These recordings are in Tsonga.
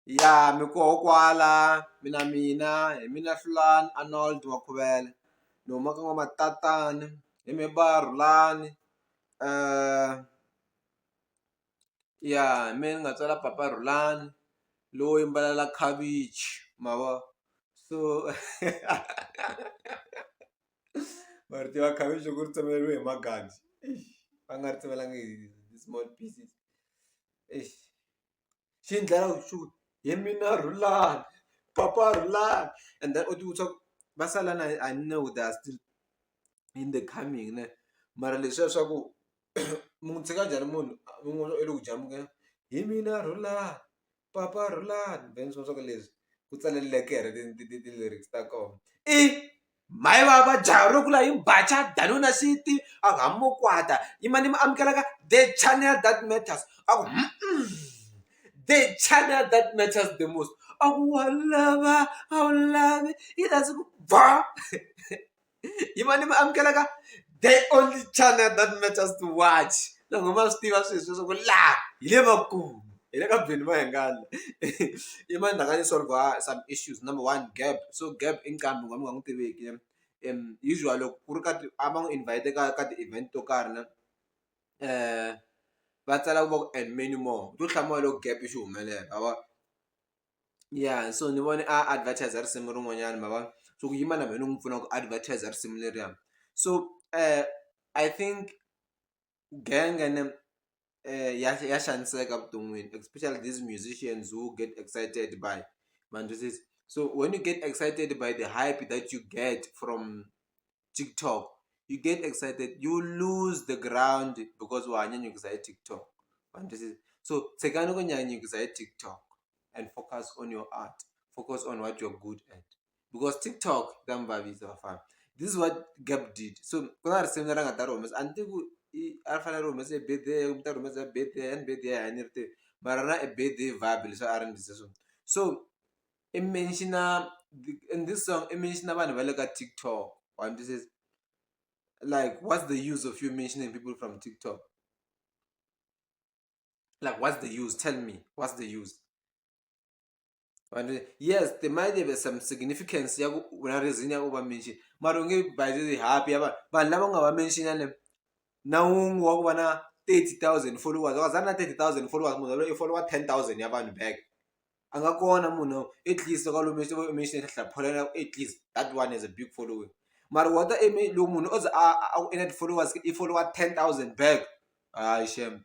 ya mi koho kwala mina mina hi mina Hlulani Arnold wa Khuvela ni huma ka N'wamatsatsana hi mehe va Rhulani ya hi mehe ni nga tswala papa Rhulani lowo yimbelela khavichi ma vo so ma ri tiva khavichi loko ri tsemeleriwe hi magaji va nga ri tsemelangi hi small pieces . swi ni dlaya vutomi hi mina Rhulani papa Rhulani and then u ti vutisa ku va sala na yini I know they are still in the coming ne mara leswiya swa ku mi n'wi tshika njhani munhu mi n'wi vona u le ku jamukeni hi mina Rhulani papa Rhulani then swi vona swa ku leswi ku tsaleleke ti-lyrics ta kona i. Mai vava jaha ro kula imbacha danuna siti ahamokwata imani muamukelaka the channel that matters aku the channel that matters the most aku wa lava a wu lavi yi rhandzi ku ba imani muamukelaka the only channel that matters to watch loko va swi tiva swilo sweswo ku laha hi le makumu hi le ka Benny Mayengani i mani la nga ni solver some issues number one gap so gap i nqambi wun'wana mi nga n'wi tiveki usual loko ku ri ka ti a va n'wi invite ka ka ti-event to karhi na va tsala ku va ku and many more u to hlamula loko gap xi humelela ma vo ya so ni vone a advertiser risimu rin'wanyani ma vo so ku yima na mehe ni n'wi pfuna ku advertiser risimu leriya so I think. genge ni ya ya xaniseka evuton'wini especially this musicians who get excited by ma ni twisisa so when you get excited by the hype that you get from TikTok you get excited you loose the ground because wa ha nyanyukisa hi TikTok ma ni twisisa so tshikani ku nyanyukisa hi TikTok and focus on your art focus on what you're good at. because tiktok yi ta mi vavisa vafana this is what gap did so ku na risimu leri a nga ta ri humesa a ni tivi ku i a ri fanele ri humese hi birthday kumbe u ta ri humesa hi birthday and birthday a ni ri tivi mara ra i birthday vibe leswi a ri ndlise swona so i mention-a in this song i mention-a vanhu va le ka tiktok wa ni twisisa like what's the use of you mentioning people from tiktok like what's the use tell me what's the use. but uh, yes there might be some significance ya ku una reason ya ku va mention mara u nge by the happy ya vanhu vanhu lava nga va mention ne na wun'we wa ku va na 30000 followers wa za na 30000 followers munhu loyi i follower 10000 ya vanhu back a nga kona munhu at least ka lomu mention hlapholela at least that one is a big following mara wata loko munhu o ze a ku ina ti-followers i follower 10000 back hayi shem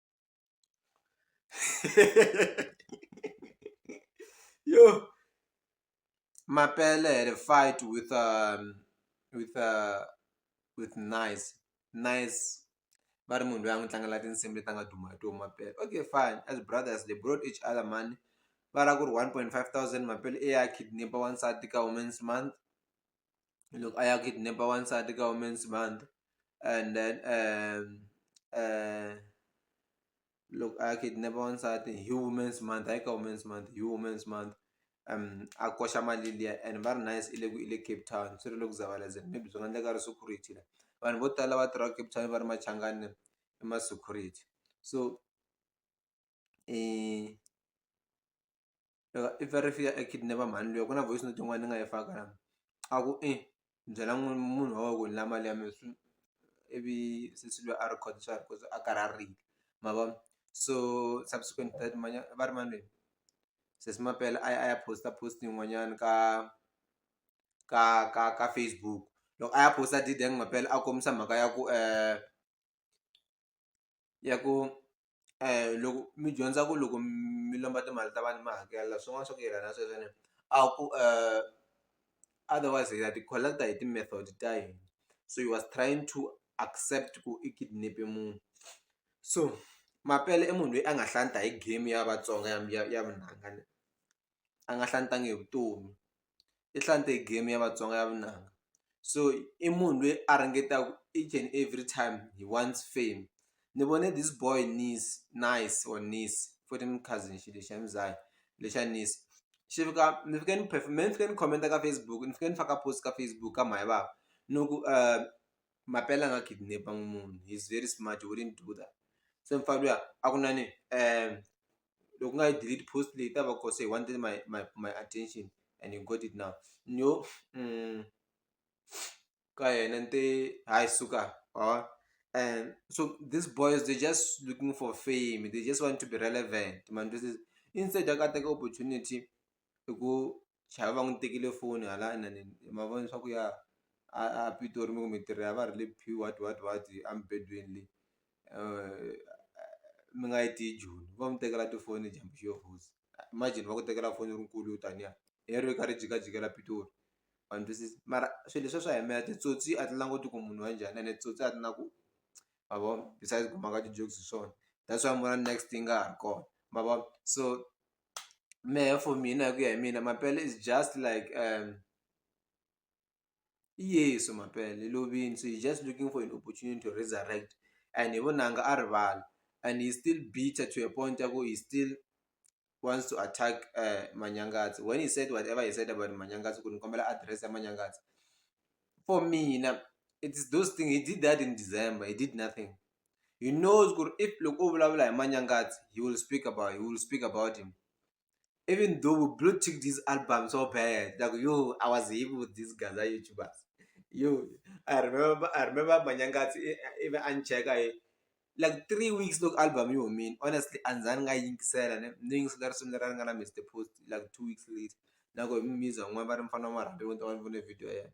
yo mapele had a fight with um, with uh, with nice nice va ri munhu loyi a n'wi tlangela tinsimu leti a nga duma hi toho mapele okay fine as brothers they brought each other money va ra ku ri one point five thousand mapele i ya kidnapa wansati ka women's month loko a ya kidnap wansati ka women's month and then loko a ya kidnap wansati hi women's month hayi ka women's month hi women's month a koxa mali liya and va ri nice i le ku i le Cape Town swi ri le ku Zavalazeni maybe swi nga endleka a ri security la vanhu vo tala va tirhaka Cape Town va ri machangani i ma security so. if a ri fika a kidnap-a mhani luya ku na voice note yin'wana ni nga yi faka la a ku i byela n'wini munhu wa wena ku ni lava mali ya mina swi ivi sesi luya a record swa ha ri kona a karhi a rila ma vo so subsequent to that va ri mani lweyi sesi mapela a ya a ya post-a post yin'wanyani ka ka ka ka Facebook loko a ya post-a a did mampela a kombisa mhaka ya ku . ya ku loko mi dyondza ku loko mi lomba timali ta vanhu mi hakela swin'wana swa ku yelana na sweswo ene a ku otherwise hi ya ti collect hi ti-method ta hina so he was trying to accept ku i kidnap-e munhu so Mapele i munhu loyi a nga hlanta hi game ya Vatsonga ya ya vunanga. a nga hlantanga hi vutomi i hlante hi game ya Vatsonga ya vunanga so i munhu loyi a ringetaka each and every time he wants fame ni vone this boy Nice Nice or Nice futhi ni cousin xilo xa Mzaya lexa Nice xi fika ni fike ni ni fike ni comment ka Facebook ni fike ni faka post ka Facebook ka mhani vava ni ku Mapela a nga kidnap-angi munhu he's very smart he wouldn't do that se mufana luya a ku na ni . loko u nga yi delete post leyi yi ta va ku se one thing my my my attention and you got it now ni yo ka yena ni te hayi suka or and so these boys they just looking for fame they just want to be relevant mani twisisa instead ya ku a teka opportunity hi ku chava va n'wi tekile foni hala inani ma vona leswaku ya a a Pitori mi ku mi tirha ya va ri le P what what what a mubedweni le mi nga yi tiyi joni vo mi tekela tifoni dyambu xi yo rhurisa imagine va ku tekela foni u ri nkulu yo taniya leriya yi karhi yi jikajikela Pitori wa ni twisisa mara swilo leswiya swa yimela titsotsi a ti languti ku munhu wa njhani ene titsotsi a ti na ku ma vo besides ku maka ti-jokes hi swona that's why mi vona next yi nga ha ri kona ma vo so. mehe for mina hi ku ya hi mina mampela is just like i yesu mampela i lovile so he's just looking for an opportunity to resurrect and hi vunanga a rivala and he's still bitter to a point ya ku he still wants to attack manyangatsi when he said whatever he said about manyangatsi ku ni kombela address ya manyangatsi for mina it's those thing he did that in december he did nothing. he knows ku ri if loko u vulavula hi manyangatsi he will speak about he will speak about him even though we blue tick this album so bad like yo i was him with these guys are youtubers yo i remember i remember manyangatsi ivi a ni cheka hi like three weeks loko album yi humile honestly a ni za ni nga yingisela ni ni yingisela risimu leri a ri nga na Mister Post like two weeks later na ku hi mu music van'wani va ri mufana wa marhambi ni vona video ya yena.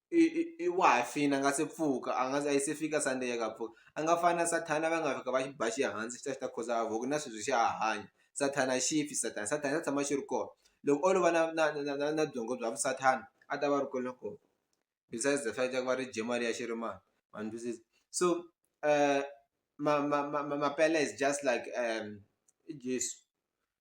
i i i wa ha fini a nga se pfuka a nga a yi se fika Sunday ya ku a pfuka a nga fani na Sathana va nga fika va xi ba xi hansi xi ta xi ta khuza havoc na sweswi xa ha hanya Sathana a xi fi Sathana Sathana xa tshama xi ri kona loko o lova na na na na na byongo bya vu Sathana a ta va a ri kona kona besides the fact ya ku va ri dye mali ya xirimani ma ni twisisa so ma ma ma ma ma pele is just like i Jeso.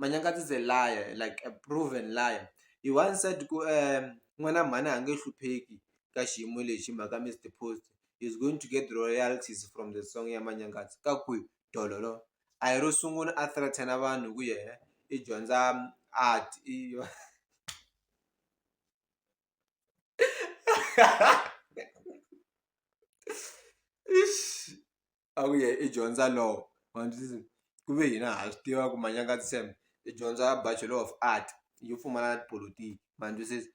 Manyangati is a liar like a proven liar he once said ku n'wana mhani a nge hlupheki ka xiyimo lexi hi mhaka Mister Post is going to get royalties from the song ya Manyangati ka kwihi dololo a hi ro sungula a threaten vanhu hi ku yena i dyondza art i i . a wu ye i dyondza law ma swi twisisa ku ve hina ha swi tiva ku manyanga ntsena i dyondza bachelor of art yo pfumala na tipolotiki ma ni twisisa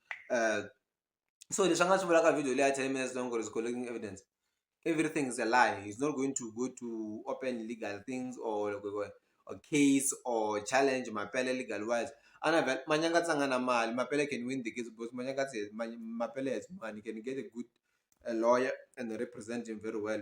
so leswi a nga swi vulaka video leyi a ten minutes long ku ri is collecting evidence everything is a lie he's not going to go to open legal things or loko hi vona or case or challenge mampela legal wise a ni avela manyanga a nga na mali mampela can win the case because manyanga mali mampela has money he can get a good a lawyer and represent him very well.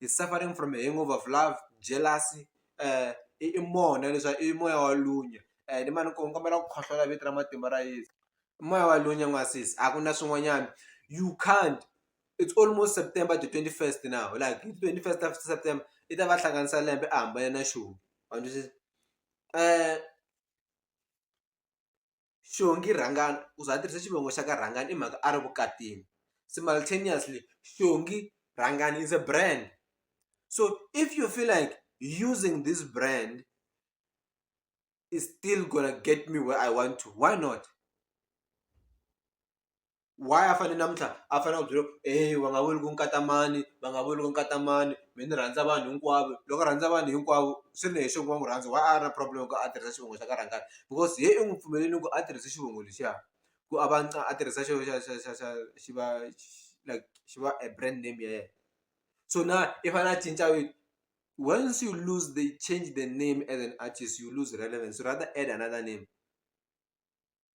is suffering from a hangover of love jealousy um i mona leswi i moya wa lunya um ni ma ni ku ni kombela ku khohlola vito ra matimba ra yeso i moya wa lunya n'wansesi a ku na swin'wanyana you can't it's almost September the twenty first now like hi twenty first of September i ta va hlanganisa lembe a hambane na xona wa twisisa . xongi rhangani u za a tirhisa xivongo xa ka rhangani i mhaka a ri vukatini simultaneously xongi rhangani is a brand so if you feel like using this brand is still gonna get me where i want to why not why a fane namuntlha a fanele a ku byela eya va nga vuli ku nkata mani va nga vuli ku nkata mani me ni rhandza vanhu hinkwavo loko a rhandza vanhu hinkwavo swi ri leswaku va n'wi rhandza why a ri na problem loko a tirhisa xivongo xa ka rhangani because se i n'wi pfumelelini ku a tirhisa xivongo lexiya ku a va a tirhisa xo xa xa xa xa xi va like xi va a brand name ya yena so na i fanele a cinca vito once you lose they change the name as an artist you lose relevance rather add another name.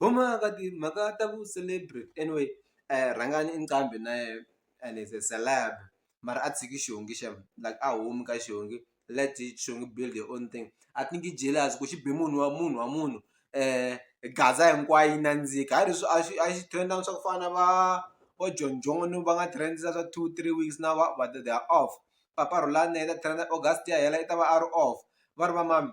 huma ka timhaka ta vu celebrity anyway rhangani i nqambi na yehe and is a celeb mara a tshiki xihundla xi ya like a humi ka xihundla let xihundla build your own thing a ti nge jealous ku xi be munhu wa munhu wa munhu gaza hinkwayo yi nandzika hi ri swi a swi a xi trend swa ku fana na va vo John John va nga trend za swa two three weeks na va va the their off papa Rhulani na yena trend August yi ya hela i ta va a ri off va ri va mani.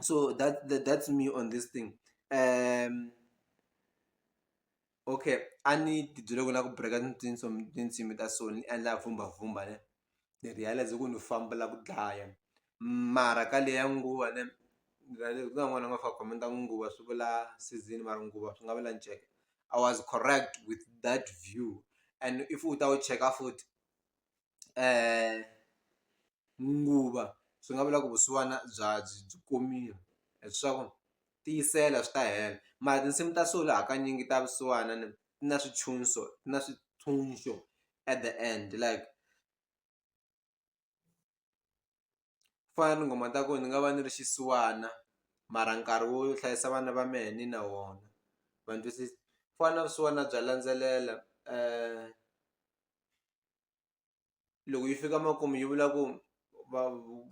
so that, that that's me on this thing um okay a ni tibyele ku na ku breka tinsimu ta so ni endla vhumbavhumba ne ni realize ku ni fambela ku dlaya mara ka leya nguva ne ni realize ku na n'wana nga fa khomenta ku nguva swi vula season mara nguva swi nga vula nceke i was correct with that view and if u ta wu cheka futhi nguva swi nga vula ku vusiwana bya byi byi komile leswaku tiyisela swi ta hela mara tinsimu ta solo hakanyingi ta vusiwana ni na swintshuxo na swintshuxo at the end like. ku fana na tinghoma ta ku ni nga va ni ri xisiwana mara nkarhi wo hlayisa vana va mehe ni na wona ma ni twisisa ku fana na vusiwana bya landzelela loko yi fika makumu yi vula ku va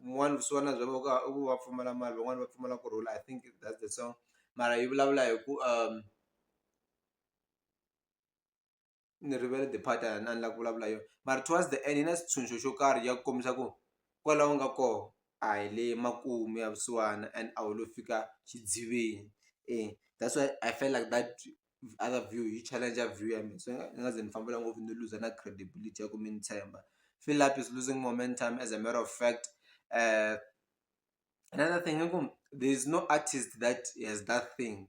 n'wana vusiwana bya vona i ku va pfumala mali van'wani va pfumala ku rhula I think that's the song mara yi vulavula hi ku . ni rivele the part a ni la ku vulavula yona mara towards the end yi na xitshunxo xo karhi ya ku kombisa ku kwala u nga koho a hi le makumu ya vusiwana and a wu lo fika xidziveni e that's why I felt like that other view yi challenger view ya mina so ni nga ni nga ze ni fambela ngopfu ni luza na credibility ya ku mi ni tshemba feel like is losing momentum as a matter of fact another thing i ku there is no artist that has that thing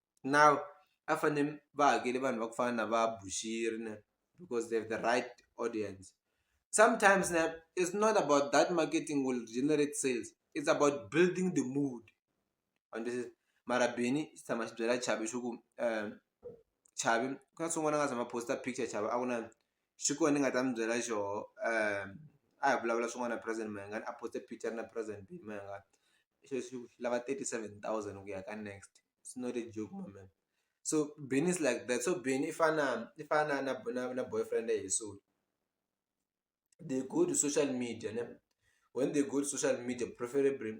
now a fane va hakele vanhu va ku fana na va Bushiri ne because they have the right audience sometimes ne it's not about that marketing will generate sales it's about building the mood and this is mara bini xi tshama xi byela chavi xi ku um chavi ku na swin'wana a nga tshama posta picture chavi a ku na xi kona ni nga ta mi byela xoho a hi vulavula swin'wana na president Mayengani Apostle Peter na president Mayengani sweswi u lava thirty seven thousand ku ya ka next it's not a joke my man so Bennie is like that so Bennie i fana i fana na na na boyfriend ya Yeso they go to social media ne when they go to social media preferably .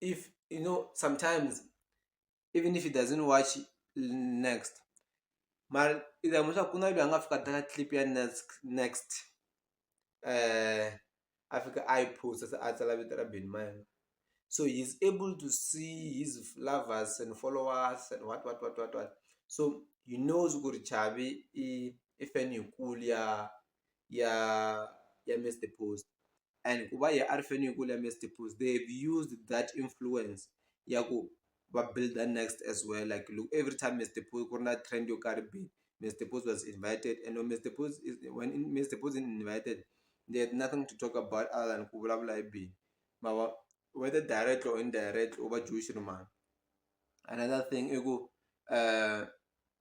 if you know sometimes even if he doesn't watch next mara i ta mu swa ku na loyi a nga fika teka clip ya next next um a fika a yi post se a tsala vito ra beni ma yena so he is able to see his lovers and followers and what what what what what so he knows ku ri chavi i i fan yikulu ya ya ya Mister Post and ku va hi a ri faneleke ya Mister Post they have used that influence ya ku va builder next as well like look every time Mister Post ku ri na trend yo karhi bini Mister Post was invited and when Mister Post is when Mister Post is invited they have nothing to talk about other than ku vulavula hi bini ma vo whether direct or indirect u va Jewish na mani another thing i ku .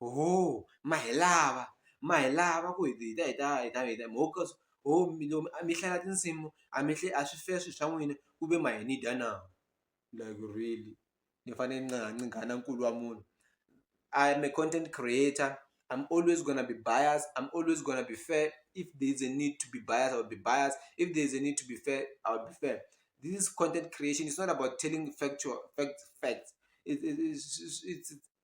ho ma hi lava ma hi lava ku hi hi ta hi ta hi ta hi ta ho ka ho mi lomu a mi hlaya tinsimu a mi a swi fair swi swa n'wina ku ve ma hi ni dya na like really ni fane ni nga ni nghana nkulu wa munhu I am a content creator I'm always gonna be bias I'm always gonna be fair if there is a need to be bias I'll be bias if there is a need to be fair I'll be fair this is content creation it's not about telling factual fact facts it's it's it's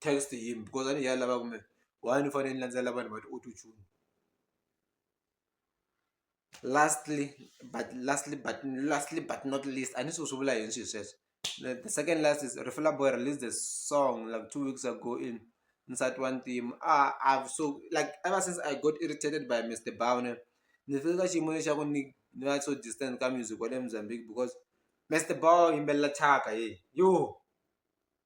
text yini because a ni yi lava kumbe why ni fanele ni landzelela vanhu va ti-auto tune lastly but lastly but lastly but not least a ni swi ku swi vula yini swilo sweswo the second last is Refilour Boy released a song like two weeks ago in nsati wa ntima a I've so like ever since I got irritated by Mister Bawunia ni fike ka xiyimo lexaku ni ni va so distant ka music wa le Mozambique because Mister Bawunia u yimbelela thyaka yey yoh.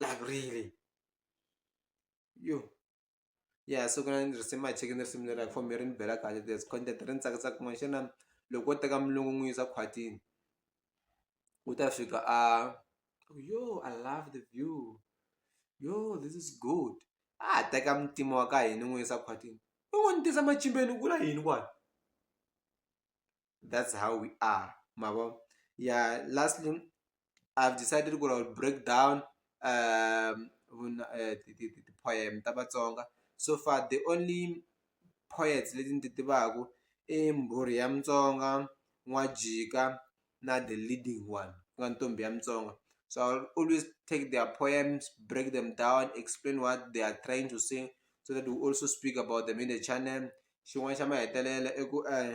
like really yo ya so ku na risimu a cheke ni risimu leri like for me ri ni bela kahle there's content ri ni tsakisa kun'wana xana loko wo teka mulungu n'wi yisa khwatini u ta fika a yo i love the view yo this is good a teka mutima wa ka hini n'wi yisa khwatini u n'wi ni tisa machimbeni ku la yini kwani that's how we are mavo yeah lastly i've decided ku i'll break down um uh, the, the, the poem ta vatsonga so far the only poets leti ni ti tivaku i mbhuri ya mutsonga n'wajika na the leading one ku nga ntombi ya mutsonga so i'll always take their poems break them down explain what they are trying to sing so that we also speak about them in the channel xin'wana xa mahetelela i ku um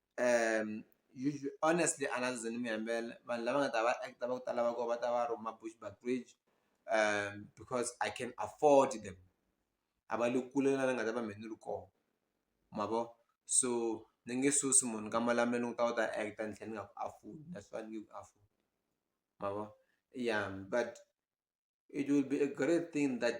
honestly a ndzi zanga ndzi mi yimela vanhu lava nga ta va act va ku tala va kona va ta va ri ma Bushbuckridge because I can afford them a va le kule na laha ni nga ta va mina ni ri kona ma vo so ni nge susi munhu ka malamula ni ku ta u ta act ni tlhela ni nga ku afford that's why ni ku afford ma vo ya but it will be a great thing that.